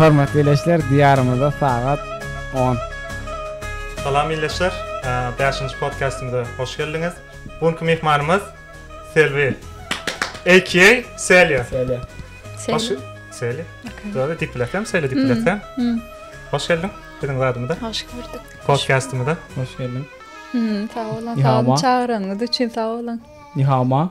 Hormatly ileçiler Diýarymyzda sagat on. Salam ileçiler Bäşinji podkastymyza hoş geldiňiz. Bu günki myhmanymyz Selbi AKA Selya. Selya. Selya. Selya. Döwde dip biletem Selya dip biletem. Hoş geldiň biziň zadymyza. Hoş gördük. Podkastymyza. Hoş geldiň. Sag bolun. Sag bolun. Çagyranyňyz üçin sag bolun. Nihama.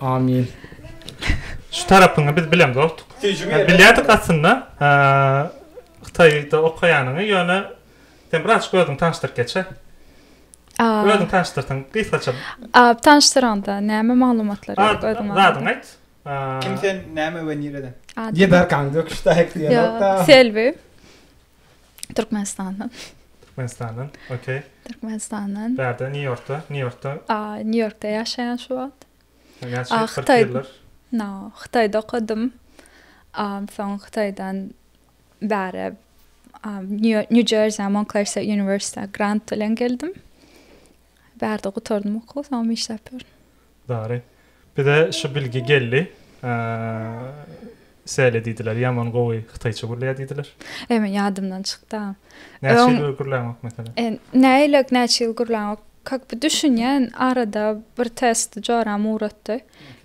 Amin. Şu tarapyňy biz bileň dostuk. Bilýärdik aslynda Hytaýda okaýanyňy, ýöne sen birazjyk özüňi tanyşdyryp geçe. Özüňi tanyşdyrsaň gysgaça. Tanyşdyraňda näme maglumatlar gerek özüň barada? Adyňy aýt. Kim sen, näme we nireden? Ýedarkaň döküşde aýtylýan ýok-da. Selbi. Türkmenistandan. Türkmenistandan, okey. Türkmenistandan. Bärde, Nýu-Ýorkda, Nýu-Ýorkda. A, Nýu-Ýorkda ýaşaýan şu wagt. Näçe ýyl, kyrk ýyldyr? No, Hytaýda okadym. A, soň Hytaýdan bäri, a, Nýu-Jersä, Montklers Uniwersitetine grant bilen geldim. Bärde gutardym okuw soňam işläp ýörün. Dary. Bize şu bilgi geldi. Säle diýdiler, ýaman gowy hytaýça gürleýär diýdiler. Eý, ýadymdan çykdy-a. Näçe ýyl gürläňok meselem? E, näýileg näçe ýyl gürläňok? Kak bu düşünýän arada bir test joram ugratdy.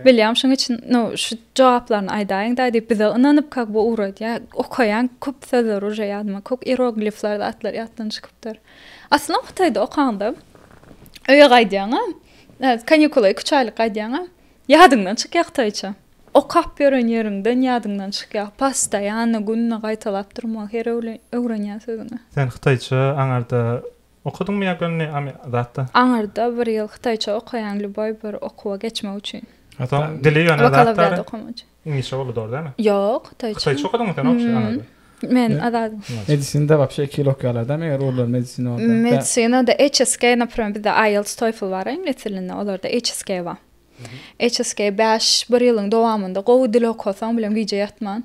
Bilýän şuň üçin, no, şu jogaplaryny aýdaýyň-da diýip bize ynanyp kak bu ugradýar. Okaýan köp sözler uje ýadyma, kok iroglifler zatlar ýatdan çykypdyr. Aslynda Hytaýda okanda öýe gaýdýaňa, kanikula iki-üç aýlyk gaýdýaňa, ýadyňdan çykýar hytaýça. Okap ýören ýeriňden ýadyňdan çykýar. Postoýanno günde gaýtalap durmagy her öwle öwrenýän sözüňi. Sen hytaýça aňarda okadyňmy ýa göni zatda? Aňarda bir ýyl hytaýça okaýan lýuboý bir okuwa geçmek üçin. Soň dili ýöne zatdary? Bakalavriat okamak üçin. Iňlisçe boldy dogry dälmi? Ýok, hytaýça. Hytaýça okadyňmy sen wapşe anada? Men azad. Medisinada wapşe iki ýyl okaýarlar dämi eger ugurlar medisina bolsa? Medisinada HSK napromer bizde IELTS TOEFL bar iňlis dilinde olarda HSK bar. HSK bäş bir ýylyň dowamynda gowy dil okasaň bilen gije ýatman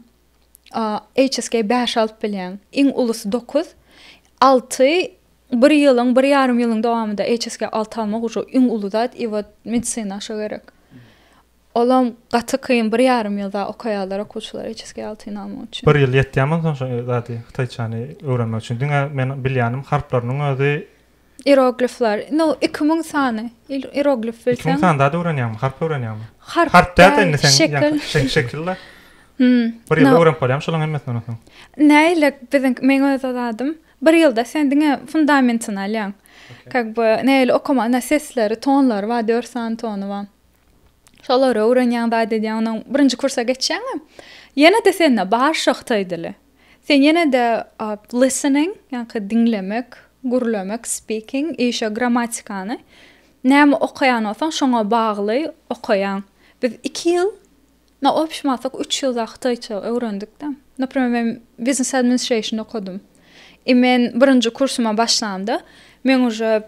HSK bäş alyp bilýäň. Iň ulusy dokuz alty bir ýylyň bir ýarym ýylyň dowamynda HSK alty almak ujy iň uly zat i wot medisina şo gerek. Olam gaty kyn bir ýarym ýylda okaýarlar okuwçylar HSK alty nama üçin. Bir ýyl ýetýämi soň şo zady hytaýçany öwrenmek üçin diňe men bilýänim harplarynyň özi. Iroglifler no iki müň sany iroglif bilseň. Iki müň sany zat öwrenýäňmi harp öwrenýäňmi. Harp harp däl indi sen şekil şekil la. Hum bir ýylda öwrenip bolýamy şolaň hemmesini ondan soň. Näile biziňki meň öz zadym bir ýylda sen diňe fundamentini alýaň. Kak bu näile okamaly sesleri tonlary bar dört sany tony bar. Şolary öwrenýäň zat edýäň ondan birinji kursa geçýäňem ýene-de sende bar şo hytaý dili. Sen ýene-de listening ýaňky diňlemek, gürlemek, speaking i şo grammatikany näme okaýan bolsaň şoňa bagly okaýaň. Biz iki ýyl Na obşmasak üç ýylda hytaýça öwrendik-de. Naprimer men Business Administration okadym. I men birinji kursuma başlamda men uje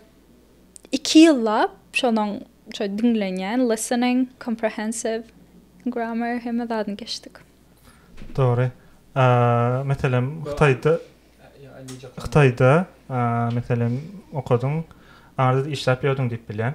iki ýyllap şonuň şo diňlenýän listening, comprehensive, grammar hemme zadyny geçdik. Dogry. A meselem hytaýda hytaýda a meselem okadyň. Aňyrda-da işläp ýördüň diýip bilýän.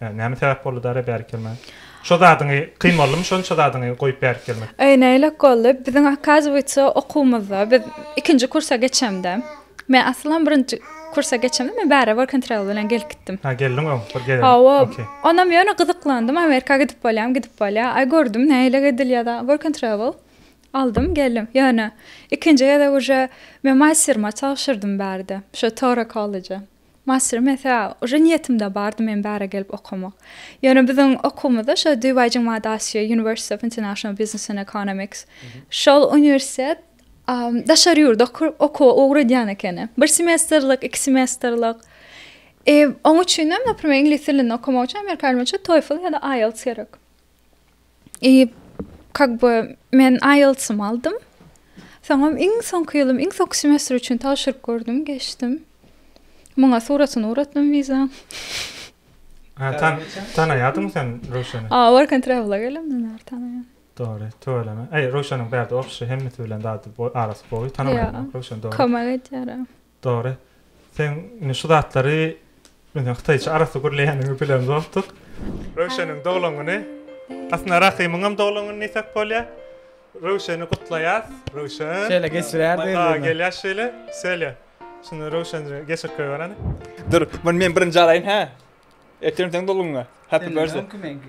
Näme sebäp boldy dara bärik gelmäge? Şo zadyňy kyn boldumy şonça zadyňy goýup bärik gelmek? Eý näylek boldy? Biziň okazywitsa okuwymyzda biz ikinji kursa geçemde men aslam birinji kursa geçemde men bäri work and travel bilen gelip gitdim. Ha geldiň öň bir gelen. Hawa. Okey. Onam ýöne gyzyklandym Amerika gidip bolýamy gidip bolýa. Aý gördüm näylek edilýada work and travel aldym geldim. Ýöne ikinji gezek uje men masterma tabşyrdym bärde şo Toro kollejde. Master mesa uje niýetimde bardy men bära gelip okamak. Ýöne biziň okuwymyzda şo Dubai-Jing Maa Daxie University of International Business and Economics şol uniwersitet daşary ýurda okuwa ugradýan ekeni. Bir semestrlik, iki semestrlik. Oň üçinem, naprimer, iňlis dilinde okamak üçin amerika dilinde TOEFL ýa-da IELTS gerek. i kag by men aýeltsym aldym soňam iň soňky ýylym iň soňky semestr üçin tabşyryp gördüm geçdim muňa suratyny uratdym wizaň Ha, tan, tanaýadyňmy sen Röwşeni? A, work and travel-a gelemden bäri tanaýan. Dogry, tüweleme. Eý, Röwşeniň bärde opşy hemmesi bilen zady boý, arasy boý, tanamaýan Ýa, Röwşen dogry. kömek edýär. Dogry. Seň indi şu zatlary biziň hytaýça arassa gürleýäniňi bilen bolupdyk. Röwşeniň doglan güni. Aslynda Rahymyňam doglan güni diýsek bolýar. Röwşeni gutlaýas. Röwşen. Şeýle geçirýärdi indi. Maýsa gelýär şeýle. Selýa. Şunda Röwşenje geçirip goýbereni. Dur, muny men birinji alaýyn hä. Ertir seň doglan günüň. Happy birthday. Seň doglan günüň meňki.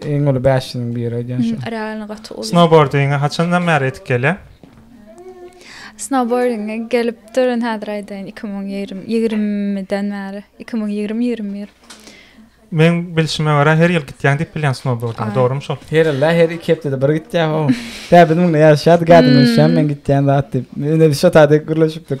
Iň uly bäşiniň biri edýän şu. Realny gaty uly. Snowboardinge haçandan bäri edip gelýär? Snowboardinge gelip durun häzir aýdaýyn 2020-den bäri. 2020-21. Men bilşime görä her ýyl gitýäň diýip bilýän snowboardinge, dogrumy şol? Her ýylda her iki hepdede bir gitýär ho. Tä biz munda ýaryşýardyk ädimini şem men gitýän zat diýip. Indi biz şo taýda gürleşipdik.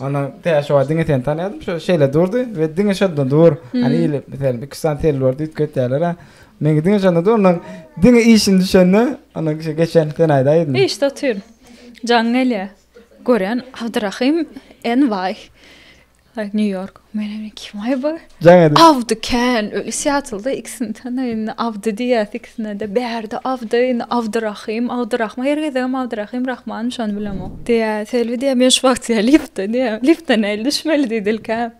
Ondan täşowa diňe seni tanýadym, şo şeýle durdy we diňe şonda dur. Hani hmm. ile meselem 2 sany tel boldy, üýtget diýerler. Meni diňe şonda dur, ondan diňe işini düşende, ondan kişi geçen sen aýdaýdym. Işde otyryn. Jaň gelýär. Gören Abdurrahim NY. New York. Meni kim aýby? Jaň edip. Awdy kän öli Seattlda ikisini tanaýyn Awdy diýýäs ikisinede bärde Awdy indi Awdyrahym Awdyrahman her gezegem Awdyrahym Rahman şony bilemok diýýä Selbi diýýä men şu wagt diýýä liftde diýýä liftde näl düşmeli diýdi ilk ä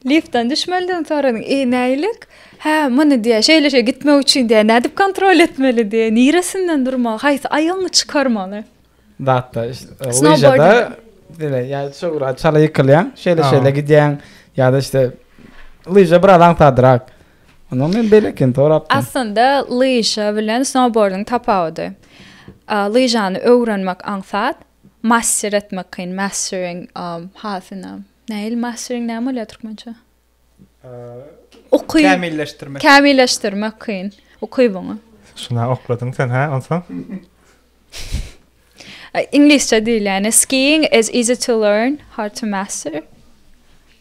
liftden düşmeliden soradyň e nälik hä muny diýýä şeýle şeý gitmek üçin diýýä nädip kontrol etmeli diýýä niresinden durmaly haýsy aýagyňy çykarmaly Datda lyžada diňe ýa-da çugra çala ýykylýaň, şeýle-şeýle gidýäň ýa-da işte lyža biraz aňsadrak. Onda men belekin sorapdym. Aslynda lyža bilen snowboardyň tapawudy. Lyžany öwrenmek aňsat, master etmek kyn, mastering hasyna. Nähili mastering näme bolýar türkmençe? Uky. Kämilleşdirmek. Kämilleşdirmek kyn. Uky buňa. Şuna okladyň sen ha, onsoň? Iňlisçe diýilýäni skiing is easy to learn, hard to master.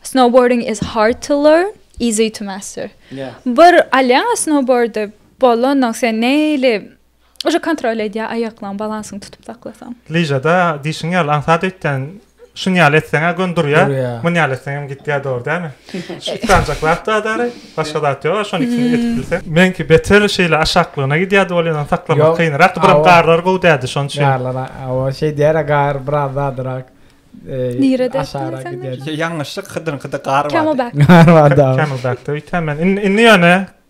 Snowboarding is hard to learn, easy to master. Yeah. Bir alýaň snowboardy, bolanok sen neýli Уже kontrol edýär aýaklaň balansyny tutup saklasaň. Lyžada diýşiň ýaly aňsat öýtýän şun ýaly etseňä gön durýar. Mun ýaly etseň hem gitýär dogry dämi? Üç sanjak zat bar dary. Başga zat ýok. Şony ikisini edip bilseň. Meňki beter şeýle aşaklygyna gidýärdi ol ýalan saklamak kynrak. Biram garlar gowy däldi şon üçin. Garlar hawa şeý diýer gar biraz zadrak. Nirede aşara gidýär. Ýalňyşlyk hydyňkyda gar bar. Gar bar da. Kämilbäkde öýtýän men. Indi ýöne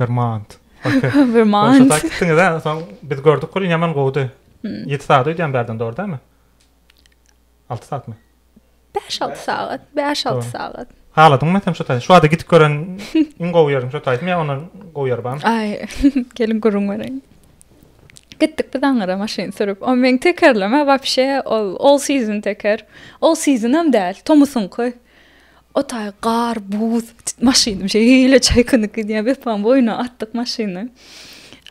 Vermont. Vermont. Şoňa gitdiňiz ha, soň biz gördük gülün ýaman gowudy. 7 hmm. sagat öýdýän bärden dogry dämi? 6 sagatmy? 5-6 sagat, 5-6 sagat. Haladyň mı sen şu taýda? Şu wada gidip gören iň gowy ýerim şu taýda. Men ondan gowy ýer barmy? Ay, gelin gurun göreň. Gitdik biz aňyra maşyn sürüp. O men tekerleme wapşe ol all season teker. All season hem däl, tomusyňky. Otaý gar, buz, maşynym şeýle çaýkanyp gidýär, Wepaň boýnuna atdyk maşyny.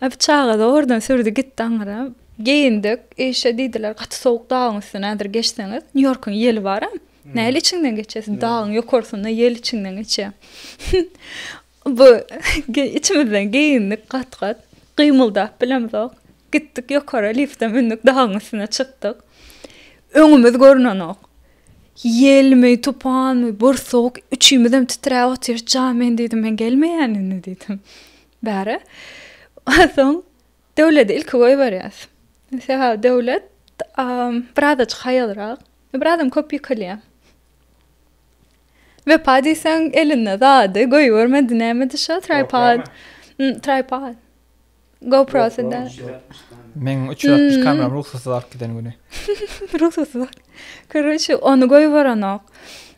Abi çaga zordan sürdi gitdi aňyra. Geýindik, işe diýdiler, gaty sowuk dagyň üstüne häzir geçseňiz, Nýu-Ýorkuň ýeli bar-a, nähili içiňden geçesiň, dagyň ýokarsynda ýel içiňden geçýär. Bu içimizden geýindik gat-gat. Gymyldap bilemzok. Gitdik ýokara, lifte mündük, dagyň üstüne çykdyk. Öňümiz görnenok. Ýelmi, tupanmy, bursuk, üçimizem titräp otyrys. Ja men diýdim, men gelmeýän indi diýdim. Bäri. Soň Döwledi ilki goýberýäs. Sebäbi Döwlet birazajyk haýalrak, birazam köp ýykylýar. Wepa diýseň elinde zady goýbermedi nämedi şo traýpad traýpad goprosy da. Meň üç ýüz altmyş kameram rugsatsyz alyp giden güni. Rugsatsyz. Koroçe ony goýberenok.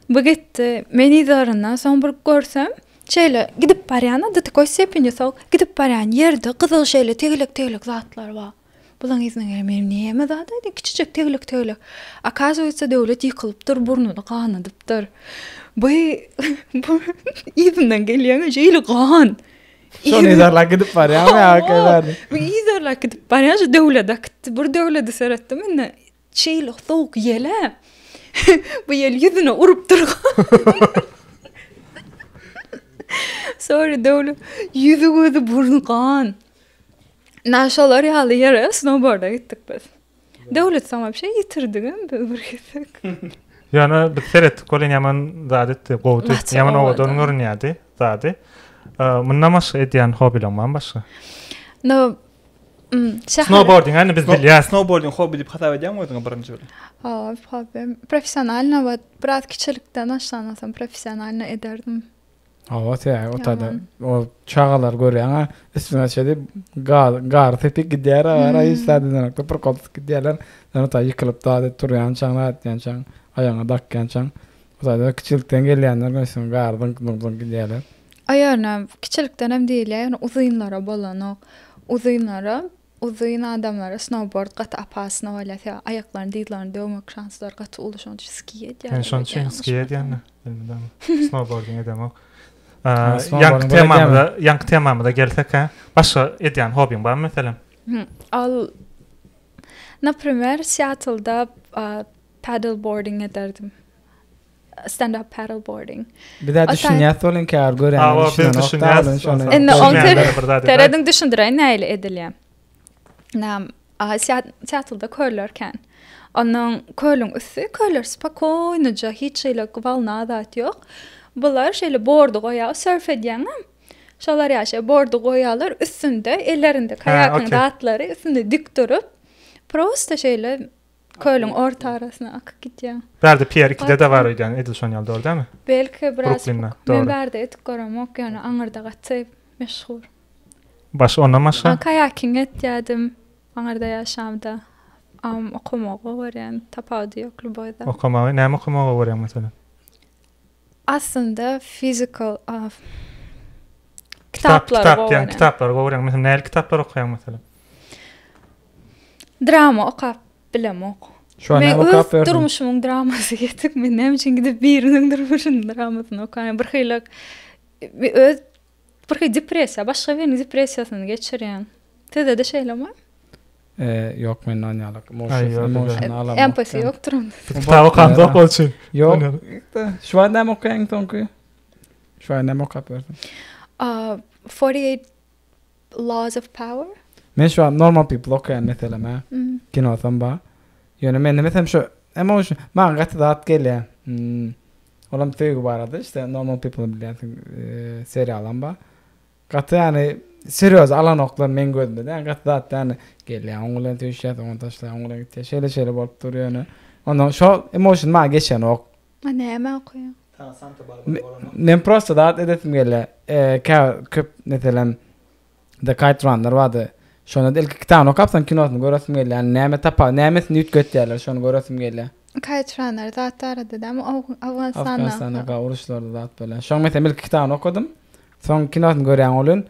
Bu gitdi. Men yzlaryndan soň bir görsem şeýle gidip barýan-a do takoý stepeni sok gidip barýan ýerde gyzyl şeýle tegelek tegelek zatlar bar. Bulaň yzyna gelen meniň näme zat aýdaýyn kiçijek teglik teglik. Akazuýetsa döwlet ýykylypdyr burnuny ganadypdyr. By bu yzyndan gelýäňä şeýle gan. Şony yzarlap gidip barýarmy ýa. Bu yzarlap gidip barýan şu döwlet akytdy. Bir döwledi seretdim indi. Şeýle sowuk ýel-ä. Bu ýel ýüzüne urup durga. Sorry Döwlet. Ýüzi gözi burny gan. Na şolar ýaly ýere snowboarda gitdik biz. Döwlet soňam bir şey ýitirdigem biz bir gezek. Ýöne biz seretdik welin ýaman zat etdi, gowy etdi. Ýaman owadan görünýärdi zady. Mundan başga edýän hobileň barmy başga? No Hmm, snowboarding, yani biz bilýär. Snowboarding hobi diýip hasap edýäňmi özüňi birinji bilen? Hawa, hobi. Professionalna we biraz kiçilikden başlamasam professionalna ederdim. Hawa, täze otada. O çagalar görýäňä, üstüne şeýle gar, gar tepip gidýär, ara hiç zady ýokda bir kopyp gidýärler. Sen ota ýykylyp dady turýan çaň, atýan çaň, aýagyňa dakýan çaň. Otada kiçilikden gelýänler görsen, gar dynk dynk dynk gidýärler. Aýalyna kiçilikdenem diýilýär, ýöne uzynlara bolanok. Uzynlara, uzyn adamlara snowbord gaty opasno bolýar, sebäbi aýaklaryny, dyzlaryny döwmek şanslary gaty uly, şonuň üçin ski edýärler. Men şonuň üçin ski edýän-de, bilmidem. Snowbordym edemok. Ýaňky temamyza, ýaňky temamyza gelsek-hä, başga edýän hobbyň barmy meselem? Ol, naprimer, Seattlda paddleboarding ederdim. Stand up paddle boarding. Biz de düşünýäs bolun kär gören. Awa biz düşünýäs. Indi on kere terediň düşündireýin näle edilýär. Nam aha teatrda körlerken. Onuň kölüň üsti köller spokoýnyja hiç şeýle gwalna zat ýok. Bular şeýle bordy goýýar surf edýäňem. Şolar ýaşa bordy goýýarlar üstünde ellerinde kaýakyň zatlary üstünde dik durup prosta şeýle Kölüň orta arasyna akyp gidýär. Bärde Pýer iki-de bar öýdýän, edil şon ýaly, dogry dälmi? Belki biraz Bruklinda, puk. Men dogry. bärde edip göremok, ýöne aňyrda gaty meşhur. Başga, ondan başga? A kaýaking etýärdim aňyrda ýaşamda. Am, okamagy gowy görýän, tapawudy ýok Lubozda. Okamagy, näme okamagy gowy görýäň, meselem? Aslynda fizikal, a, Kitap, kitaplary kitap gowy diýen, görýän. kitaplary gowy görýäňmi, meselem, nähili kitaplary okaýaň, meselem? Drama okap bilemok. Şu an okap berdim. Durmuşumyň dramasy getik. Men näme üçin gidip biriniň durmuşynyň dramasyny okaýan? Bir hili öz bir hili depressiýa, başga biriniň depressiýasyny geçirýän. Sizde-de şeýlemi? Eee, ýok mende ony ýalak. Emosional. Empatiýa ýokdur onda. Kitap okanda bolçy. Ýok. Şu an näme okaýaň soňky? Şu an näme okap berdim? Aaa, 48 Laws of power. Men şu an normal people okaýan meselem hä. Kinosam ba. Ýöne men demesem şu emotion maňa gaty zat gelýä. Olam söýgi barada işte normal people bilýänsiň seriýalam ba. Gaty ýany serýoz alanoklar meň gözümde dä gaty zat ýany gelýä oň bilen söýüşýä soňam taşlaýa oň bilen gitýä şeýle şeýle bolup dur ýöne ondan şo emotion maňa geçenok. A näme okaýaň? Men prosta zat edesim gelýä. Käbir köp meselem The Kite Runner bardy. Şonda ilki kitabyny okapsoň kinosyny göresim gelýä. Ýani näme tapa, nämesini üýtgetýärler şony göresim gelýä. Kite Runner zat barada dämi Awganystanda. Awganystanda uruşlarda zat bolýan. Şoň meselem ilki kitabyny okadym. Soň kinosyny görýän bolýan.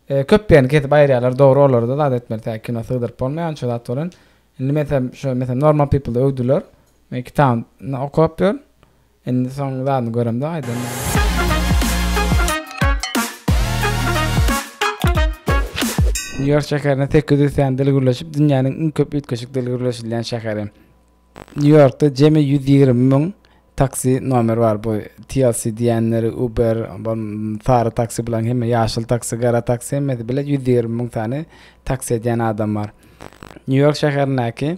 Köp ýerini kesip aýyrýarlar. Dogry olarda zat etmeli tä kino sygdyryp bolmaýan şo zat bolýan. Indi meselem şo meselem Normal People-de öwdüler. Men kitabyny okap ýör. Indi soň zadyny göremde gaýdam. Nýu-Ýork şäherinde sekiz ýüz sany dil gürleşip, dünýäniň iň köp üýtgeşik dil gürleşilýän şäheri. Nýu-Ýorkda jemi ýüz ýigrimi müň taksi nomeri bar. Bu TLC diýýänleri, Uber, sary taksi, bularyň hemme ýaşyl taksi, gara taksi hemmesi bile ýüz ýigrimi müň sany taksi edýän adam bar. Nýu-Ýork şäherindäki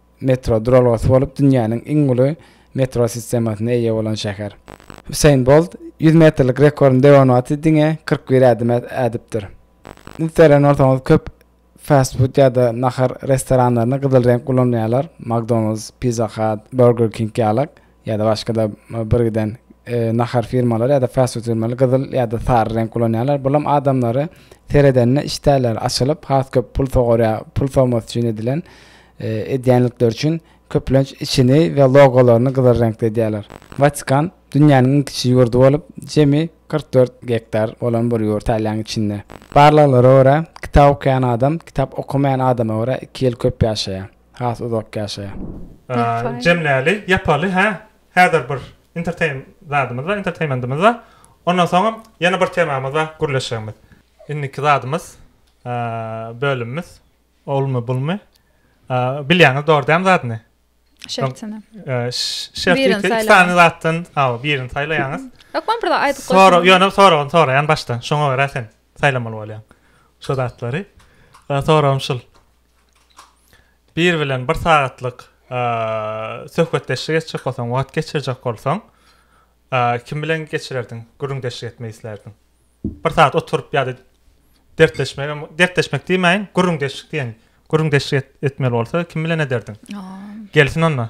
metro duralgasy bolup dünýäniň iň uly metro sistemasyna eýe bolan şäher. Hüseýin Bolt ýüz metrlik rekordyny döwen wagty diňe kyrk bir ädim ädipdir. Indi seýren bolsaňyz köp fast-food ýa-da nahar restoranlaryny gyzyl reňk ulanýarlar, McDonald's, Pizza Hut, Burger King ýalak. ýa-da başga-da birgiden nahar firmalary ýa-da fast food firmalary gyzyl ýa-da sary reňk ulanýarlar. Bulam adamlary seredende işdäleri açylyp, has köp pul sogarýar, pul sowmasy üçin edilen edýänlikleri üçin köplenç içini we logolaryny gyzyl reňkde edýärler. Watikan dünýäniň iň kiçi ýurdy bolup, jemi kyrk dört gektar bolan bir ýurt Italiýanyň içinde. Barlaglara görä, kitap okaýan adam kitap okamaýan adama görä iki ýyl köp ýaşaýar. Has uzak ýaşaýa. Jemläli, ýapaly, hä? Häzir bir enterteýn zadymyz bar, enterteýmentimiz bar. Ondan soňam ýene bir temamyz bar, gürleşjegimiz. Indiki zadymyz, bölümimiz, olmy, bulmy? Bilýäňiz dogry dämi zadyny? Şertini. Şertini iki sany zatdan, hawa, birini saýlaýaňyz. Ýok, men bir zat aýdyp goýsam. Sora, ýöne soragyny soraýan başdan. Şoňa görä sen Saýlamaly bolýaň şu zatlary. Soragym şul. Biri bilen bir sagatlyk söhbetdeşlik etjek bolsaň, wagt geçirjek bolsaň, kim bilen geçirerdiň? Gürrüňdeşlik etmek islärdiň? Bir sagat oturyp ýa-da dertleşmegem, dertleşmek diýmäýin, gürrüňdeşlik diýeýin. Gürrüňdeşlik etmeli bolsa, kim bilen ederdiň? Gelsin onda.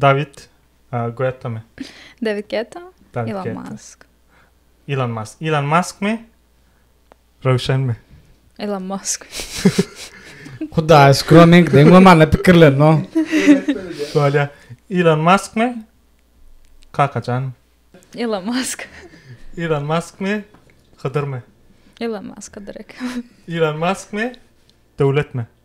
Dawid Guettami. Dawid Guetta. Ilon Mask. Ilon Mask. Ilon Maskmi? Röwşenmi? Ilon Mask. Hudaýa şükür o meňki deň bolmanda pikirlerin o. Bolýa. Ilon Maskmi? Kakajan. Ilon Mask. Ilon Maskmi? Hydyrmy? Ilon Mask Hydyrek. Ilon Maskmi? Döwletmi?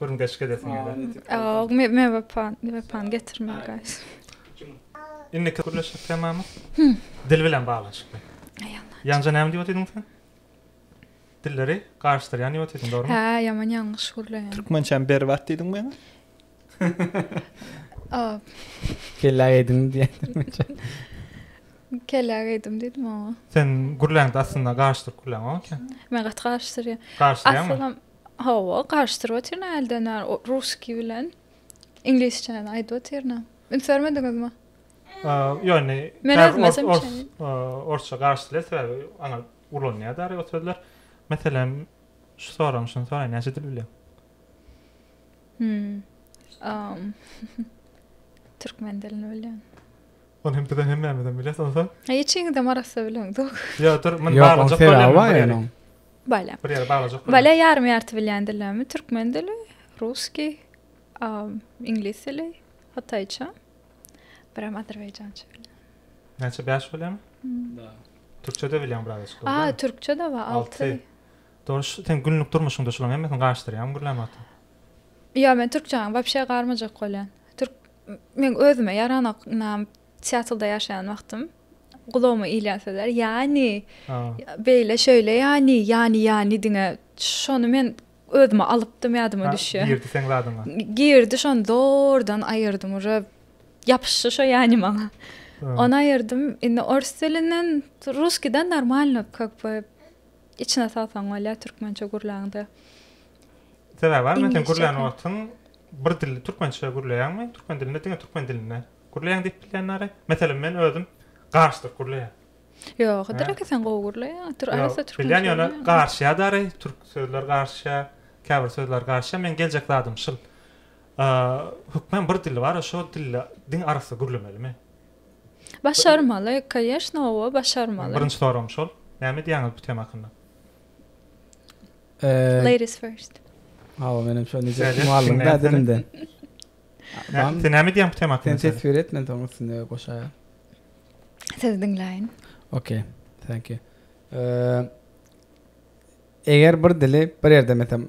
Gürrüň deşik edesin geldi. Ýok, men wepany getirmeris. Indiki gürleşilik temamyz dil bilen baglanyşykly. Ýaňja näme diýip otydyň sen? Dilleri garyşdyrýan diýip otydyň, dogrumy? Hä, ýaman ýalňyş gürleýän. Türkmençäm berbat diýdiň maňa. Kellä geýdiňmi diýýän türkmençe. Kellä geýdim diýdim oňa. Sen gürläňde aslynda garyşdyryp gürläňok eken. Men gaty garyşdyrýan. Garyşdyrýanmy? Asylym Hawa, garyşdyryp otyryn-a hälden bäri russkiý bilen iňlisçäni aýdyp otyryn-a. Üns bermediňizmi? Ýöne Men özüm ýazan üçin. Orsça garyşdyrylar sebäbi aňa ulanýar däri o sözler. Meselem, şu soragyň şuny soraýyn, näçe dil bilýäň? Hmm. Türkmen dilini bilýän. Ony hem bizem hemmämizem bileris onsoň. He içiňizem arassa bilemzok. Ýa dur, men baglajak bolýan bar ýa. Bala. Bir ýere baglajak. Bala ýarym ýarty bilýän dillermi? Türkmen dili, ruski, um, iňlis dili, hytaýça. Biram azerbaýjança bilýän. Näçe 5 bolýarmy? Da. Türkçede bilýän biraz. Aa, türkçede we 6. Dogruş, sen günlük durmuşyňda şularyň hemmesini gaşdyrýaň gürlämata. Ýa men türkçäni wapşe garmajak bolýan. Türk men özüme ýaranok ynam Seattlda ýaşaýan wagtym gulagyma ilýän sözler ýani beýle şeýle ýani ýani ýani diňe şony men özüme alypdym ýadyma düşýär. Girdi seň zadyňa. Girdi şony zordan aýyrdym uje ýapyşdy şo ýani maňa. Ony aýyrdym indi ors dilinden russkiden normalno kak içine salsaň bolýar türkmençe gürläňde. Sebäbi bar, men seni gürlän wagtym bir dil, türkmençe gürleýäňmi, türkmen dilinde, diňe türkmen dilinde gürleýäň diýip bilýänleri. Meselem, men özüm garşydyr gürleýän. Ýok, Hydyr aka sen gowy gürleýäň. Tür arassa türkmençe. Bilýän ýöne garşýa dary, türk sözler garşýa, käbir sözler garşýa. Men geljek zadym şul. Hökman bir dil bar, şo dilde diňe arassa gürlemeli men. Başarmaly, kaýeşna, owa, başarmaly. Birinji soragym şol. Näme diýýäňiz bu tema hakynda? Ladies first. Hawa menem şo neje mugallym da dilimden. Sen näme diýýäň bu tema hakynda? Sen teswir et men soň üstüne goşaýa. Siz diňläýin. Okay. Thank you. Eger bir dili bir ýerde metem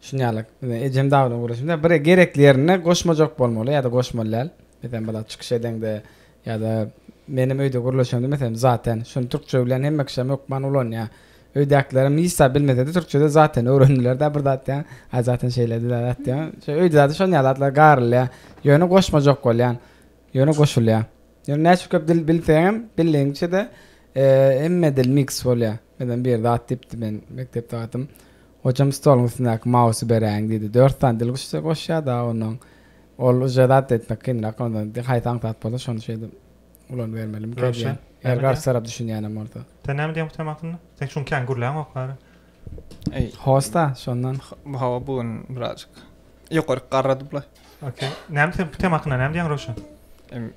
şuny ýaly ejem dawlan guruşymda bir gerekli ýerine goşmajak bolmaly ýa-da goşmaly däl. Metem bala çykyş edeňde Ýa-da menem öýde gürleşemde meselem zaten şuny türkçe bilen hemme kişem hökman ulanýar. Öýdäkilerem hiç zat bilmesede türkçede zaten öwrendilerda bir zat diýýän aý zaten şeýledi-da zat diýýän. Şeý öýde zaten şonýa zatlar garylýar. Ýöne goşmajak bolýan. Ýöne goşulýar. Ýöne näçe köp dil bilseňem bildigiňçede hemme dil miks bolýar. Meselem bir zat diýipdi men mekdep sagatym. Hojam stoluň üstündäki mausy beräýiň diýdi. Dört sany dil goşýada onnoň. Ol uja zat etmek kynrak onda indi haýsy aňsat bolsa şony şeýdip ulanybermelimi ki Röwşen, edýän. näme Eger garşy edýäň? tarap düşünýänem bolsa. Sen näme edýäň bu tema hakynda? Sen şuň kän gürläňok bary. Eý, Hosta şondan. bu hawa bu gün birazjyk ýokaryk garradyp-la. Okey. Näme sen bu tema hakynda näme diýýäň Röwşen? Em,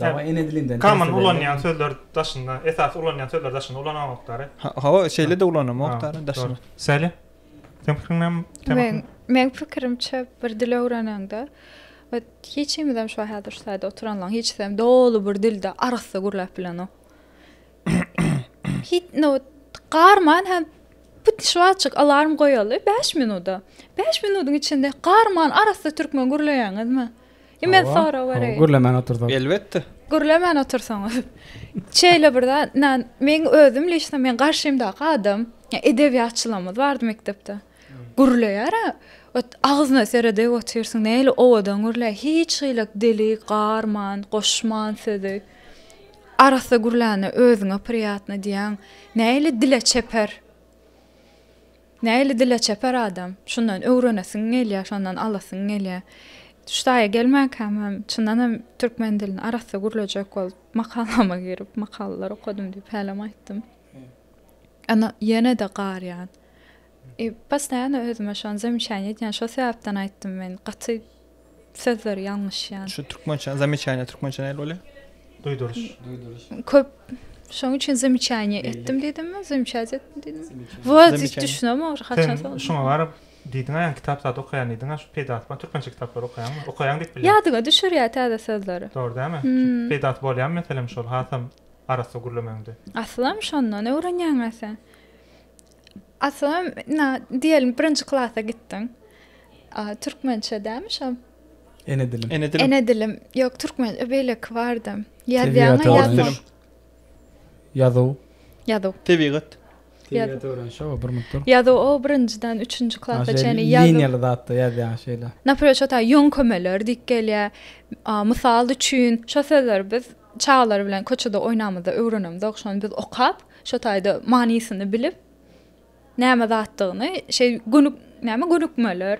Dawa ene dilinden. Common ulanýan sözler daşynda, esasy ulanýan sözler daşynda ulanamokdary. Hawa, şeýle-de ulanamokdary daşynda. Sally, seň pikiriň näme? Meň pikirimçe, bir dil öwrenende, hiç kimizem şu häzir şu taýda oturanlaň hiçisem doly bir dilde arassa gürläp bilenok. Hiç nowat garman hem put şu wagtjyk alarm goýaly bäş minuda. Bäş minudyň içinde garman arassa türkmen gürleýäňizmi? Men sorag bereýin. Gürlemän otursak. Elbetde. Gürlemän otursaňyz. Şeýle bir zat, nan, meň özüm liçno meň garşymdaky adam, edebiýatçylarymyz bardy mekdepde. Gürleýär-ä. Ot agzyna seredip otyrsyň, nähili owadan gürleýär. Hiç hili dili garman, goşman sözi. Arassa gürlände özüňe priýatno diýýäň. Nähili dile çeper. Nähili dile çeper adam. Şundan öwrenesiň gelýär, şondan alasyň gelýär. Şu taýa gelmänkäm hem çyndan hem türkmen dilini arassa gürlejek bolup, makalama girip, makalalar okadym diýip hälem aýtdym. Ýöne ýene-de garýan. I postoýanno özüme şony zemişäniýe edýän. Şo sebäpden aýtdym men gaty sözleri ýalňyş ýan. Şu türkmençe zamechaniýa türkmençe nähili bolýar? Duýduryş. Duýduryş. Köp Şoň üçin zamechaniýa etdim diýdimmi? Zamechaniýa etdim diýdimmi? Bu hiç düşünemok ogry haçan soň. Şoňa baryp diýdiň-ä ýa kitap zat okaýan diýdiň-ä şu peýdasy bar türkmençe kitaplary okaýaňmy? Okaýaň diýip bilýän. Ýadyňa düşürýär täze sözleri. Dogry dälmi? Peýdasy bolýamy meselem şol hasam arassa gürlemegiňde? Aslam şondan öwrenýäň-ä sen. Aslynda, na, diýelim, birinji klasa gitdiň. A, türkmençe dämi şo? Ene dilim. Ene dilim. Ene dilim. Ýok, türkmen, e, beýleki bardy. Ýazýaňa Tebigat ýazmak. öwreniş. Ýazuw. Ýazuw. Tebigat. Tebigat öwreniş, şo bir mutdyr. Ýazuw, o, birinjiden üçünji klasa Aşa çenli ýazuw. liniýaly zatda ýazýaň şeýle. Naprimýr, şo ta ýöňkemeler diýip gelýär. A, mysal üçin, şo sözleri biz Çagalar bilen köçede oýnamyzda öwrenemzok, şony biz okap, şo taýda manysyny bilip, näme zatdygyny şeý gönük, näme gönükmeler,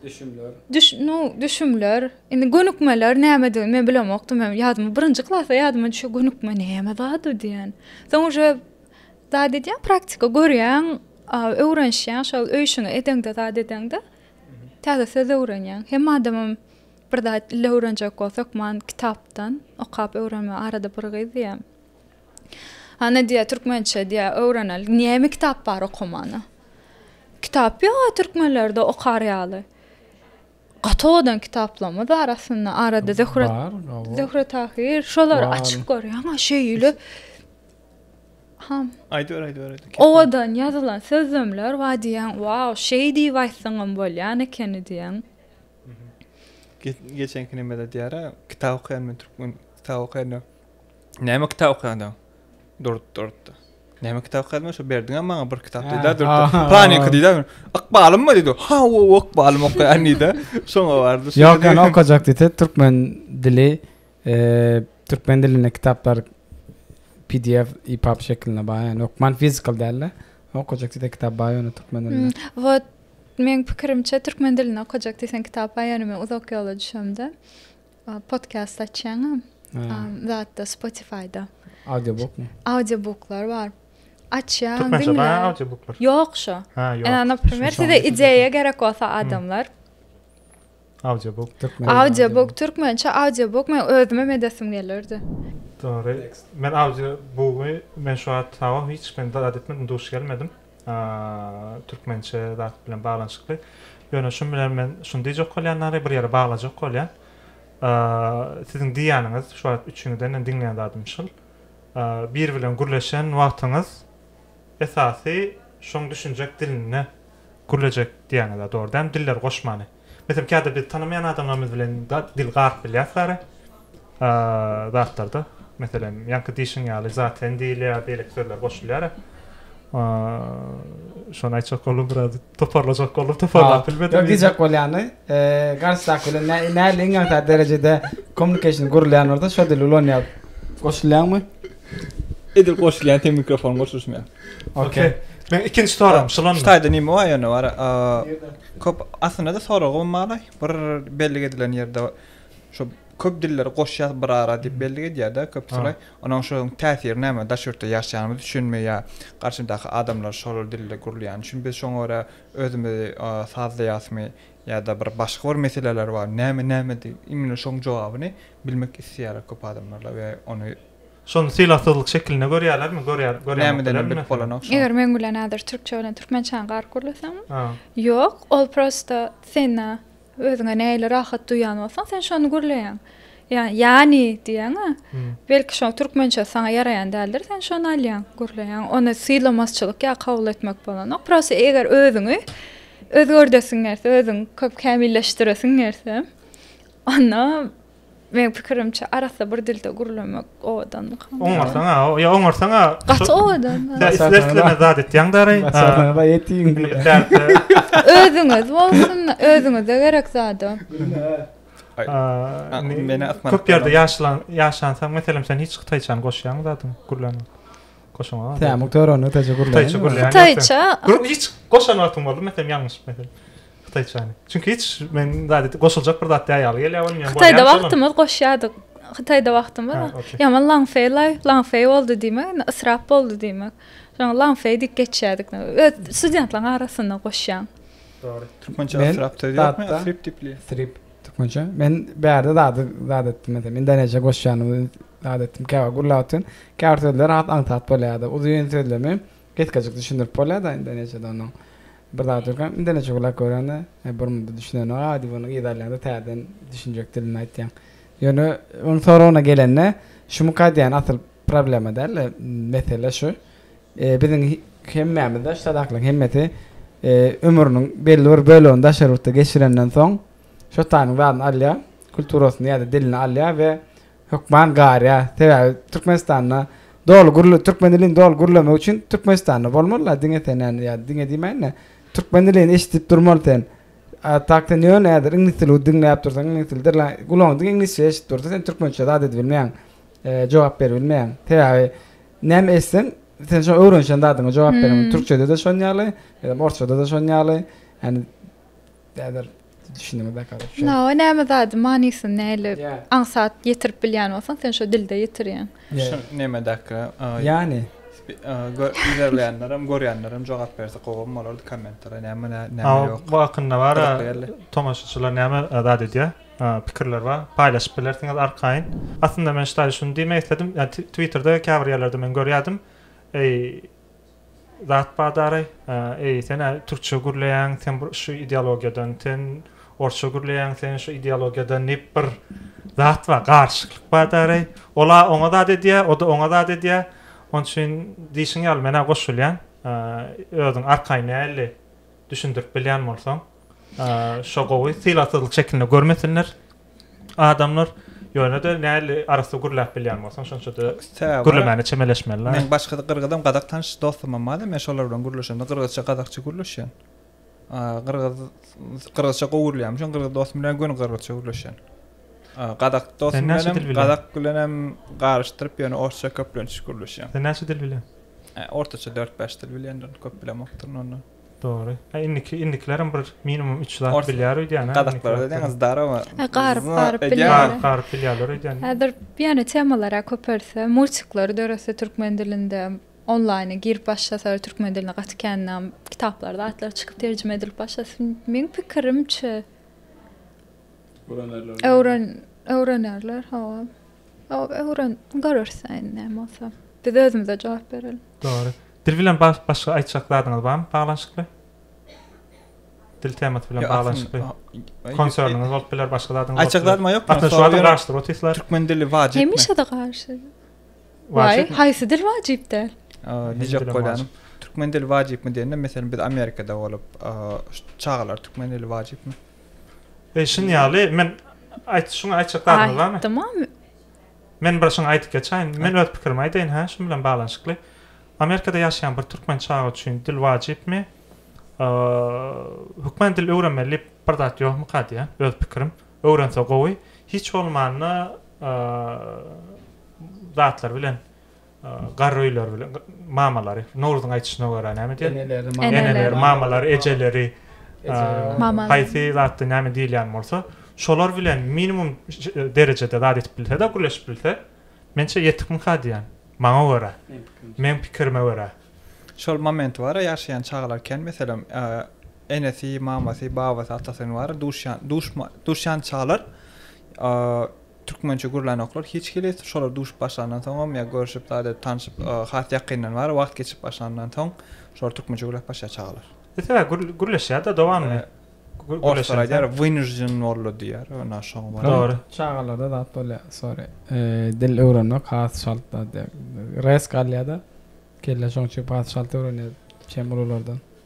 Düşümler. düş, nu, düşümler, indi gönükmeler nämedigini men bilemokdym, men ýadyma, birinji klasda ýadyma düşýär, gönükme näme zady diýen. Soň uje zat edýäň, praktika görýäň, a, öwrenişýäň, şol öý işiňi edeňde, zat edeňde, täze söz öwrenýäň. Hem adamym Bir zat ille öwrenjek bolup hökman kitapdan okap öwrenme arada bir gyz diýýä Hany diýýä türkmençe diýýä öwrenel näme kitap bar okamana Kitap ýok a türkmenlerde okar ýaly Gaty owadan kitaplarymyz bar aslynda arada Zöhre Zöhre Tahyr şolary açyp görýän a şeýle Ham Aýdyber aýdyber Owadan ýazylan sözlemler bar diýýän wau şeý diýip aýtsaňam bolýan ekeni diýýän. Geçenki nemede diýär, kitap okaýan men türkmen kitap okaýan. Näme kitap okaýan? Durdy, durdy. Näme kitap okaýan? Şu berdiňä maňa bir kitap diýdi, durdy. Panik diýdi. Ykbalym mı diýdi? Ha, o ykbalym okaýan diýdi. Şoňa bardy. Ýok, ýa okajak diýdi, türkmen dili, e, türkmen dilinde kitaplar PDF, EPUB şeklinde baý, ýa-ni okman fizikal däl-de. Okajak diýdi, kitap baý, ýa-ni türkmen dilinde. Hmm, Meň pikirimçe türkmen dilini okajak diýseň kitap aýanymyň uzak ýola düşemde podkast açýaňa zatda spotifyda. Audiobook mu? Audiobooklar bar. Açýaň. Türkmençe bar audiobooklar. Ýok şu. Ha ýok. Ene naprimer size ideýa gerek bolsa adamlar. Audiobook türkmen. Audiobook türkmençe audiobook men özüme medesim gelirdi. Dogry. Men audiobook men şu wagt hiç men dalat etmedim, duş gelmedim. türkmençe zat bilen baglanyşykly. Ýöne şun bilen men şuny diýjek bolýan ary, bir ýere baglajak bolýan. Siziň diýýäniňiz, şu wagt üçiňizden hem diňleýän zadym şul. Biri bilen gürleşen wagtyňyz esasy şoň düşünjek dilinde gürlejek diýýäňiz-ä, dogry däl mi? Diller goşmany. Meselem kädir biz tanamaýan adamlarymyz bilen dil garyp bilýäs bäri zatlarda. Meselem ýaňky diýşiň ýaly zatlen diýilýär beýleki sözler goşulýar. Şony aýtjak boldum biraz toparlajak boldum toparlap bilmedim. Ýok diýjek bolýany garşydaky bilen nähili iňňän derejede kommunikasiýa gurulýanlarda şo dili ulanýar. Goşulýaňmy? Edil goşulýan teň mikrofon goşulyşmaýar. Okey. Men ikinji soram şulan. Şu taýda nime bar ýöne bar. Köp aslynda da soragym bar. Bir bellik edilen ýerde şu köp dilleri goşýas bir ara diýip bellik edýärde köp şolay. Onuň şu täsiri näme? Daş ýurtda ýaşaýanymyz üçinmi ýa garşymdaky adamlar şol dilde gürleýän üçin biz şoňa görä özümizi sazlaýasmy ýa-da bir başga bir meseleler bar. Näme näme diýip imine şoň jogabyny bilmek isleýärler köp adamlar we ony Şony sylagsyzlyk şekilinde görýärlermi? Görýär, görýärmi? Näme bilip bolanok şony? Eger meň bilen häzir türkçe bilen türkmençäni garyp gürleseňmi? Ýok, ol prosta sena özüňe nähili rahat duýýan bolsaň, sen şony gürleýäň. Ýa, ýani diýýäň-ä. Belki şo türkmençe saňa ýaraýan däldir, sen şony alýaň, gürleýäň. Ony sylamasçylyk ýa kabul etmek bolanok. Prosta eger özüňi özgerdesiň gelse, özüň köp kämilleşdiresiň gelse, onda Meň pikirimçe arassa bir dilde gürlemek owadan. Oňarsaň a, ýa oňarsaň a. Gaty owadan. Sen isle isle zat etýäň dary. Baý etýin. Özüňiz bolsun, özüňize gerek zada. Köp ýerde ýaşalan, ýaşansaň, meselem sen hiç hytaýçany goşýaňmy zadyň gürlän? Goşaňa. Tämiň törände täze gürlän. Täze gürlän. Täze. Gürlän hiç goşan wagtyň boldumy, meselem ýalňyş meselem. Hytaýçany. Çünki hiç men zady goşuljak bir zat ýaýaly gelýär ony men. Hytaýda wagtymyz goşýardyk. Hytaýda wagtymyz. Ýaman Langfei laý, Langfei boldy diýmek, indi ysrap boldy diýmek. Şoňa Langfei diýip geçýärdik. Öz studentlaň arasynda goşýaň. Dogry. Türkmençe ysrap söz ýokmy? Ysrip dipli. Ysrip türkmençe. Men bärde zady zat etdim meselem. Indoneziýa goşýanymy zat etdim. Käwagt gürläp otyryn. Käbir sözler has aňsat bolýardy. Uzyn sözlemi. Gysgajyk düşündirip bolýada indonesiýada onuň bir zady ýok hem indonesçe gulak görende bir munda düşünenok a diýip ony yza alýaňda täzeden düşünjek dilini aýtýaň ýöne onuň soragyna gelende şumyka aýdýan asyl problema dälde mesele şu biziň hemmämiz daş sazaklaryň hemmesi ömrüniň belli bir bölegini daşary ýurtda geçirenden soň şotanyň zadyny alýa kulturasyny ýada dilini alýa we Hökman garýa sebäbi Türkmenistanda doly gürle türkmen dilini doly gürlemek üçin Türkmenistanda bolmaly la diňe sen ýa ýa diňe diýmäýin-de türkmen dilini eşidip durmaly sen. A tak sen ýöne häzir iňlis dili diňläp dursaň iňlis dili derlaň gulagyň diňe iňlisçe eşidip dursa sen türkmençe zat edip bilmeýäň e jogap berip bilmeýäň sebäbi näme etseň sen şo öwrenişen zadyňa jogap beremeli türkçede-de şon ýaly eee orsçada-da şon ýaly ýani Näder düşündüňiz belki alyp. No, näme zady manysyny näle aňsat ýetirip bilýän bolsaň, sen şo dilde ýetirýäň. Şu näme dakga? Ýani Görýänler hem görýänler hem jogap berse gowam bolardy kommentara näme näme ýok. Bu hakynda bar tomaşaçylar näme zat edýär? Pikirler bar. Paýlaşyp bilersiňiz arkaýyn. Aslynda men ştaýy şuny diýmek isledim. Ýa Twitterde käbir ýerlerde men görýärdim. Eý Zat bar dary. Eý, sen-ä türkçe gürleýäň, sen bir şu ideologiýadan, sen orsça gürleýäň, sen şu ideologiýadan diýip bir zat bar, garşyklyk bar dary. Ol-a oňa zat edýär, o-da oňa zat edýär. Oň üçin diýşiň ýaly men-ä goşulýan. Özüň arkaýyn nähili düşündirip bilýän bolsaň. Şo gowy sylagsyzlyk şekilinde görmesinler adamlar. Ýöne-de näli arassa gürläp bilýän bolsaň şonça-da gürlemäne çemeleşmeli. Men başga gyrgyzam gazak tanyş dostumam bar-da men şolar bilen gürleşemde gyrgyzça gazakça gürleşýän. Gyrgyz gyrgyzça gowy gürleýän üçin gyrgyz dostum bilen göni gyrgyzça gürleşýän. Gazak dostum bilenem gazak bilenem garyşdyryp ýöne orsça köplenç gürleşýän. Sen näçe dil bilýän? Ortaça 4-5 dil bilýän köp bilemokdyryn ondan. Dogry. A indiki indikilerem bir minimum üç zat Ors- bilýär öýdýän. hä, Gazaklarda indikilerde. diýen zdarowa. E, garyp, Zna- garyp edýän. bilýär. Garyp garyp bilýärler öýdýän. Häzir ýöne temalara köpelse, multiklary döretse türkmen dilinde, onlaýna girip başlasalar türkmen diline gaty kän nam, kitaplar zatlar çykyp terjime edilip başlasyn. Meň pikirimçe, Öwrenerler. öwren öwrenerler, hawa. Hawa, öwren görersiň näme bolsa. Biz özümize jogap bereliň. Dogry. Dil bilen bagşy başga aýtjak zadyňyz barmy baglanyşykly? Dil temasy bilen baglanyşykly konserniňiz bolup biler, başga zadyňyz bolup biler. Aýtjak zadym ýok. Aslynda şu adam garşydyr otistler. Türkmen dili wajypmy? Hemişe-de garşy. Wajypmy? Waý, haýsy dil wajyp däl? Diýjek bolýanym, türkmen dili wajypmy diýende, meselem, biz Amerikada bolup, çagalar türkmen dili wajypmy? E, şuny ýaly, men aýt, şuňa aýtjak zadyňyz barmy? Aýtdym-a, Men bir şuny aýdyp geçäýin. Men öz pikirimi aýdaýyn, hä, şuň bilen baglanyşykly. Amerikada ýaşaýan bir türkmen çaga üçin dil wajypmy? Hökmany dil öwrenmeli diýip bir zat ýokmuka diýýän, öz pikirim. Öwrense gowy. Hiç bolmanda zatlar bilen Garryýler bilen mamalary, Nowruzyň aýdyşyna görä näme diýer? Eneleri, mamalary, ejeleri, haýsy zatda näme diýilýän bolsa, şolar bilen minimum derejede zat edip bilse-de, gürleşip bilse, mençe ýetikmikä diýýän. Maňa görä, meň pikirime görä. Şol moment bar-a, ýaşaýan çagalar kän, meselem, enesi, mamasy, babasy, atasy, bar-a, duşýan, duşma, duşýan çagalar Türkmençe gürlänoklar hiç hili, şolar duşup başlandan soňam ýa görşüp zat edip tanşyp has ýakyndan bari wagt geçip başlandan soň şolar türkmençe gürläp başlaýar çagalar. Ese gürleşýärda dowamly. Orslar aýdýar wynujden boldy diýýär ýöne şoňa bar. Dogry. Çagalarda zat bolýar sorry. Dil öwrenmek has çalt zat ýa resk alýada kelle şoň üçin has çalt öwrenýär şem ululardan.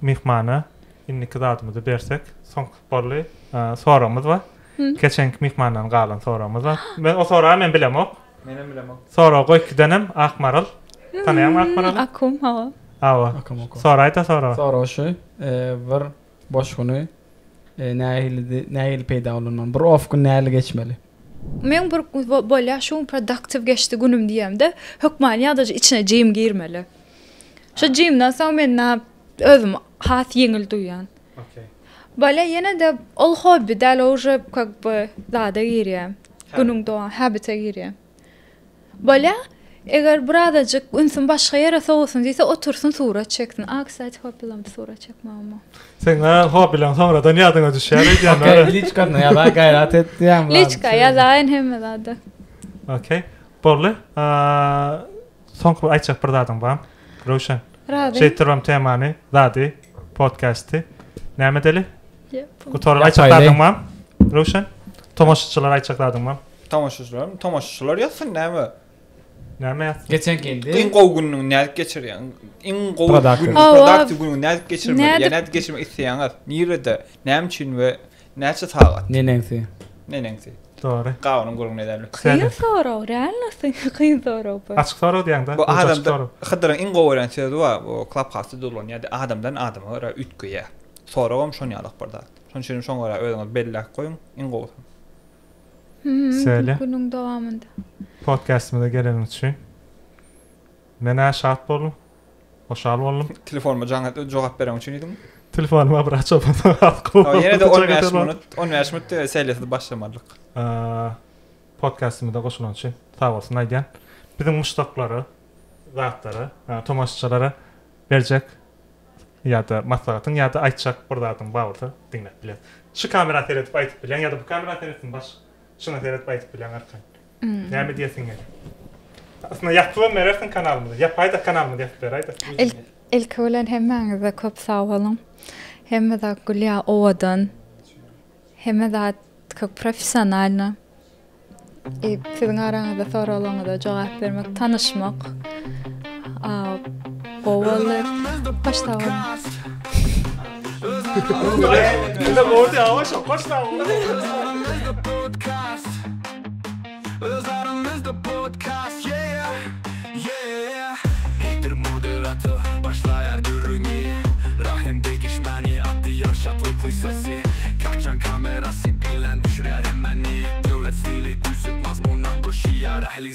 Myhmana indiki zadymyzy bersek. Soňky boldy. Soragymyz bar. Geçenki myhmandan galan soragymyz bar. Men o soragy men bilemok. Menem bilemok. Sorag goý kidenem Akmaral. Tanaýaňmy Akmaraly? Akum hawa. Hawa. Akum akum. Soraýda soragy. Sorag şu, bir boş güni nähilidi, nähili peýda ulanmaly? Bir off gün nähili geçmeli? Men bir bolýa şu gün productive geçdi günüm diýemde hökmany ýagdaýda içine jim girmeli. Şu jimden soň men özümi has ýeňil duýýan. Okey. Bale ýene-de ol hobbi däl, o uje kak by zada girýä. Günüň dowam habite girýä. Bale eger bir azajyk ünsüm başga ýere sowasyn diýse otursyn surat çeksin. A kstati hobbileňde surat çekmegem bar. Seň a hobbileň soňradan ýadyňa düşýär eýdýän Okey wara. liçkasna ýaza gaýrat et diýýäň. Liçka ýazaýyn hemme zada. Okey. Boldy. A Soňky bir aýtjak bir zadyň bar Röwşen? Razy. Şeýdip durubam temany, zady, podkasty. Näme edeli? Gutaryp aýtjak zadyň bar? Röwşen? Tomaşaçylara aýtjak zadyň bar? Tomaşaçylarmy? Tomaşaçylar ýazsyn näme? Näme ýazsyn? Geçen geldi. Iň gowy günüňi nädip geçirýäň? Iň gowy Produktiv. günüňi, Awa. produktiv günüňi nädip geçirmeli? Nädip- Ýa nädip geçirmek isleýäňiz? Nirede? Näme üçin we Näçe sagat? Neneňsi? Neneňsi? Dogry. Gabynyň gürrüňini ederler. Kyn sorag, realnosy kyn sorag bu. Açyk sorag diýäňdä. Bu adamda Hydyryň iň gowy öwren sözi bar, bu Clubhouse-da dolanýardy, adamdan adama görä üýtgeýär. Soragam şon ýalyk bir zat. Şonuň üçin şoňa görä özüňizi belläp goýuň, iň gowusy. Söyle. Günüň dowamynda. Podcastymyza geleniň üçin. Men-ä şat boldum. Hoşal boldum. Telefonuma jaň et, jogap bereň üçin diýdim. Telefonyma bir açyp Ýa ýene-de on bäş minut, on bäş minut diýip sähel-ýesir başlamalyk. Podkastymyza goşulany üçin sag bolsun aýdýan. Biziň muşdaklara, zatlara, tomaşaçylara berjek ýa-da maslahatyň ýa-da aýtjak bir zadyň bar bolsa diňläp bileris. Şu kamera seredip aýdyp bileň ýa-da bu kamera seretsin baş şuna seredip aýdyp bileň arkaýyn. Näme diýesiň gelýär? Aslynda ýatypam berersiň kanalymyza. Ýapaýda kanalymyza ýatyp beraýda. Ilki bilen hemmäňize köp sag boluň. Hemme zat gülýär owadan. Hemme zat köp professionalno. Siziň araňyzda soragyňyza jogap bermek, tanyşmak. Gowy boldy. Başda bar. Ýa boldy awa şok başda. Öz aramyzda podcast yeah yeah Heytir moderator başlaýar gürrüňi Rahim degişmäni atýar şatlyk pysasy Kaçan kamerasy bilen düşürýär hemmeni Döwlet stili düzüp mazmuna goşýar ähli